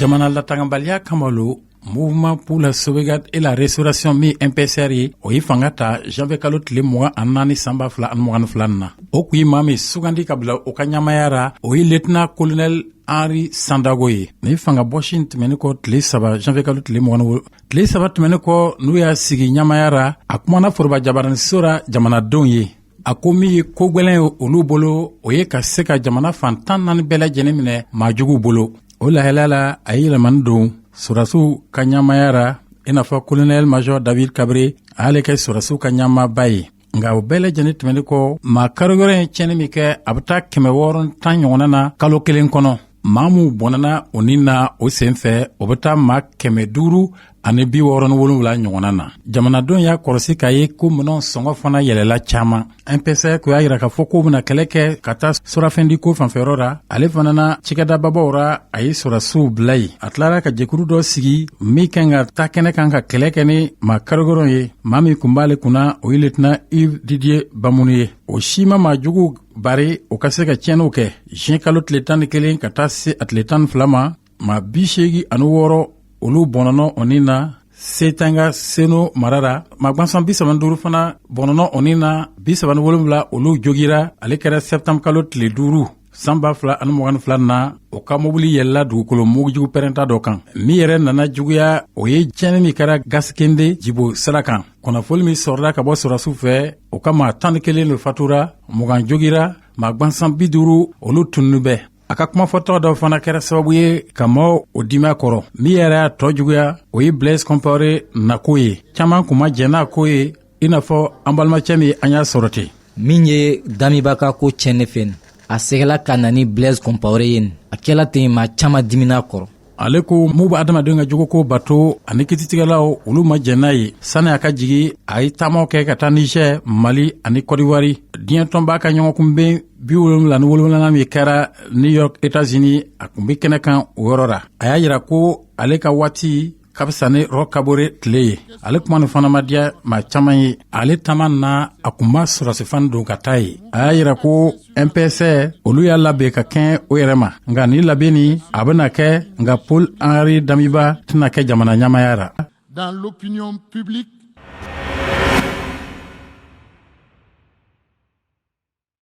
jamana latangabaliya kama lo mouvement pour la sauvegarde et la restauration min mpsr ye o ye fanga ta janvier kalo tile mugan ani naani san ba fila ani mugan ni fila na o kun ye maa min sugandi ka bila o ka ɲamaya ra o ye lieutenant kolonɛl henri sandaogo ye ni fanga bɔsi in tɛmɛnin kɔ tile saba janvier kalo tile mugan wolo tile saba tɛmɛnin kɔ n'u y'a sigi ɲamaya ra a kumana foroba jabaraniso ra jamanadenw ye a ko min ye ko gwɛlɛn ye olu bolo o ye ka se ka jamana fan tan naani bɛɛ lajɛlen minɛ maajuguw bolo o lahalaya la a ye yɛlɛmani don sɔrasiw ka ɲamaya ra i n'a fɔ kolonɛl majɔ david kabre a y'ale kɛ sɔrasiw ka ɲamaba ye nka o bɛɛ lajɛlen tɛmɛnin kɔ maa karigwɛlɛn ye tiɲɛni min kɛ a bɛ taa kɛmɛ wɔɔrɔ ni tan ɲɔgɔnna na kalo kelen kɔnɔ maa minw bɔnɛna o ni na o sen fɛ o bɛ taa maa kɛmɛ duuru ani bi wɔɔrɔ ni wolonwula ɲɔgɔnna na jamanadenw y'a kɔrɔsi k'a ye ko minɛnw sɔngɔ fana yɛlɛla caman mpsr kun y'a yira k'a fɔ k'u bena kɛlɛ kɛ ka taa surafɛndiko fanfɛyɔrɔ ra ale fana na cikɛdababaw ra a ye sɔrasiw bila yen a tilara ka jɛkuru dɔ sigi min kan ka taa kɛnɛ kan ka kɛlɛ kɛ ni maa karigwɛlɛn ye maa min kun b'ale kunna o ye lieutenant yves didier bamouni ye o si ma maa juguw bari u ka se ka tiɲɛniw kɛ juin kalo tile tan ni kelen ka taa se a tile tan ni fila ma maa bi seegi ani wɔɔrɔ olu bɔnɔnɔ o ni na seytenga seno mara ra maa gwansan bi saba ni duuru fana bɔnɔnɔ o ni na bi saba ni wolonwula olu jogira ale kɛra sɛptanbu kalo tile duuru san ba fila ani mugan ni fila na o ka mobili yɛlɛla dugukolo mugujugu pɛrɛnta dɔ kan min yɛrɛ nana juguya o ye tiɲɛni min kɛra gaskinde jibo sira kan kunnafoni min sɔrɔla ka bɔ sɔrasiw fɛ o ka maa tan ni kelen de fatura mugan jogira maa gwansan bi duuru olu tununnin bɛ a ka kumafɔcogo dɔ fana kɛra sababu ye ka mɔɔw dimi a kɔrɔ min yɛrɛ y'a tɔɔ juguya o ye blaise compaore nako ye caaman kun ma jɛn n'a ko ye i n'a fɔ an balimacɛ min an y'a sɔrɔ ten min ye damiba ka ko tiɲɛ ne fɛ a segila ka na ni blaise compaore ye a kɛla ten maa caaman dimina a kɔrɔ ale kɔ minw bɛ adamadenw ka jogoko bato ani kititigɛlaw olu ma jɛn n'a ye sani a ka jigi a ye taamaw kɛ ka taa niger mali ani kɔdiwari diɲɛ tɔnba ka ɲɔgɔnkunben bi wolonwula ni wolonwulanan min kɛra new york etazini a kun be kɛnɛ kan o yɔrɔ ra a y'a yira ko ale ka waati ka fisa ni roch kabore tile ye ale kuma nin fana ma diya maa caaman ye ale taama na a kun ma sɔrasi fani don ka taa yen a y'a yira ko mpsr olu y'a labɛn ka kɛɲɛ o yɛrɛ ma nka nin labɛnni a bɛna kɛ nka paul henri damiba tɛna kɛ jamana ɲamaya ra dans l'opinion publique